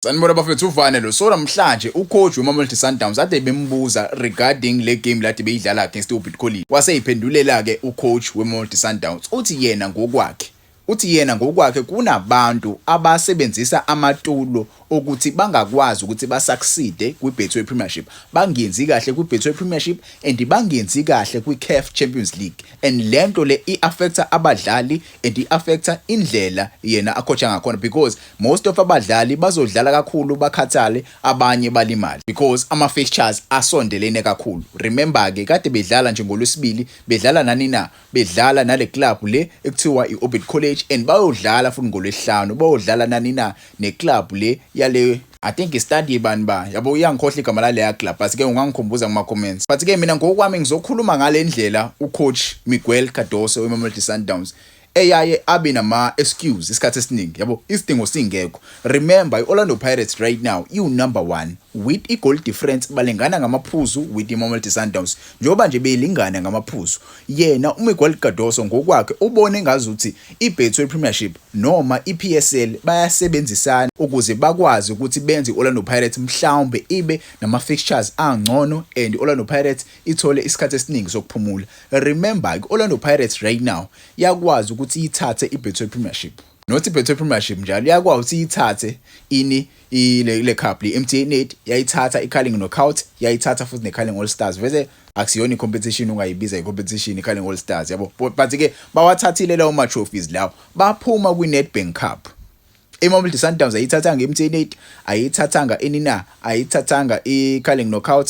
Sanibona bafethu uvane lo so namhlanje ucoach weMamelodi Sundowns ade bembuza regarding le game lade beyidlala against uBit College waseyiphendulela ke ucoach weMamelodi Sundowns uthi yena ngokwakhe uthi yena ngokwakhe kunabantu abasebenzisa amatulo okuthi bangakwazi ukuthi basucceede kwiBetway Premiership bangenzi kahle kwiBetway Premiership and bangenzi kahle kwiCAF Champions League and lento le iaffecta abadlali and i affecta indlela yena akhotha ngakhona because most of abadlali bazodlala kakhulu bakhathale abanye balimali because ama fixtures asondelene kakhulu remember ke kade bedlala nje ngolwesibili bedlala nani na bedlala nale club le ekuthiwa i Orbit College and bayodlala futhi ngolwesihlanu bayodlala nani na ne club le yale I think study bani ba yabo uyangikhohla igama laleya club but ke ungangikhumbuza kuma comments but ke mina ngokwami ngizokhuluma ngalendlela ucoach Miguel Cardoso weMamelodi Sundowns eyaye abe nama excuse isikhathi esiningi yabo isidingo singekho remember iOrlando Pirates right now iu number 1 with i goal difference balengana ngamaphuzu with iMamelodi Sundowns njengoba nje belingana ngamaphuzu yena uMiguel Cardoso ngokwakhe ubone ngazuthi iBetway Premiership noma iPSL bayasebenzisana ukuze bakwazi ukuthi benze i-Orlando Pirates mhlawumbe ibe nama-fixtures angcono and i-Orlando Pirates ithole isikhathi esiningi sokuphumula. Remember ke i-Orlando Pirates right now yakwazi ukuthi iyithathe iBetway Premiership. Not iBetway Premiership njalo, yakwazi ukuthi iyithathe ini? ile le cup le MTN 8 yayithatha iCarling Knockout yayithatha futhi neCarling All Stars vese akusiyona icompetition ungayibiza icompetition iCarling All Stars yabo but ke bawathathile lawo ma trophies lawo baphuma kwiNedbank Cup iMamelodi Sundowns ayithathanga iMTN 8 ayithathanga inina ayithathanga iCarling Knockout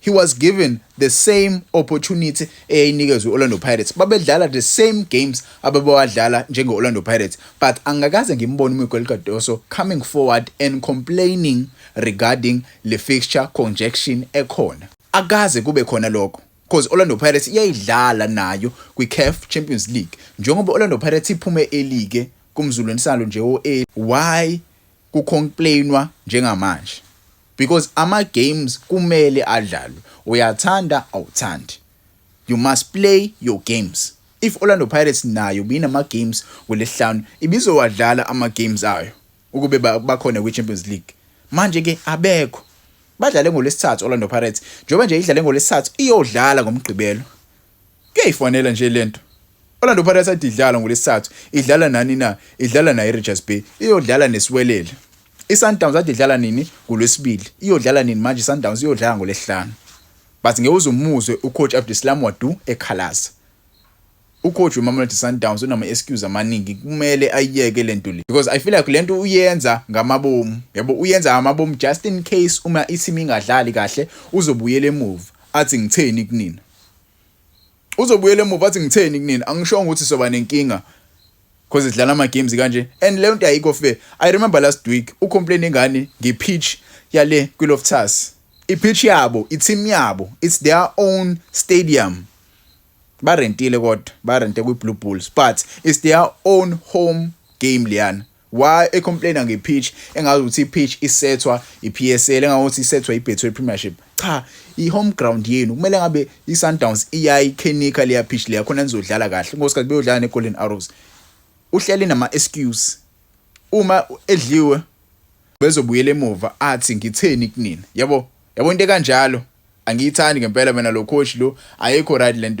He was given the same opportunity eyayinikezwe i-Orlando Pirates. Babedlala the same games abebewadlala njenge-Orlando Pirates. But angakaze ngimbone uMiguel Cardoso coming forward and complaining regarding le fixture conjection ekhona. Akaze kube khona lokho. Because Orlando Pirates iyayidlala nayo kwi-CAF Champions League. Njengoba Orlando Pirates iphume elike kumzulweni salo nje o-A. Why kucomplainwa njengamanje? because ama games kumele adlalwe uyathanda awuthandi you must play your games if Orlando Pirates nayo binama games kulesihlanu ibizowadlala ama games ayo ukube bakhona kwi Champions League manje ke abekho badlale ngolesithathu Orlando Pirates njengoba nje idlale ngolesithathu iyodlala ngomgqibelo Kuyayifanela nje lento. Orlando Pirates adidlala ngolesithathu, idlala nani na? Idlala naye Richards Bay, iyodlala nesiwelele. ISundowns adidlala nini? Ngolwesibili. Iyodlala nini manje iSundowns? Iyodlala ngolesihlanu. But ngeke uze umuzwe ucoach Abdeslam Wadu ekhalaza. Ucoach weMamelodi Sundowns unama excuse amaningi kumele ayiyeke lento le because I feel like lento uyenza ngamabomu yabo uyenza ngamabomu just in case uma i-team ingadlali kahle uzobuyela emuva athi ngitheni kunina uzobuyela emuva athi ngitheni kunini angishongo ukuthi soba nenkinga because idlala ama games kanje and leyo nto ayikho fair i remember last week u complain ngani nge pitch yale kwi Loftus i pitch yabo i team yabo it's their own stadium barentile kodwa barente kwi Blue Bulls but it's their own home game liyana Why e complainer nge pitch engazi ukuthi i pitch isethwa i PSL engazi ukuthi isethwa i Betway Premiership. Cha, i home ground yenu kumele ngabe i Sundowns iyayi kenika leya pitch leya khona nizodlala kahle. Ngosikhathi beyodlala ne Golden Arrows. Uhleli nama excuse. Uma edliwe bezobuyela emuva athi ngitheni kunina. Yabo? Yabo into kanjalo. Angiyithandi ngempela mina lo coach lo ayikho right lento.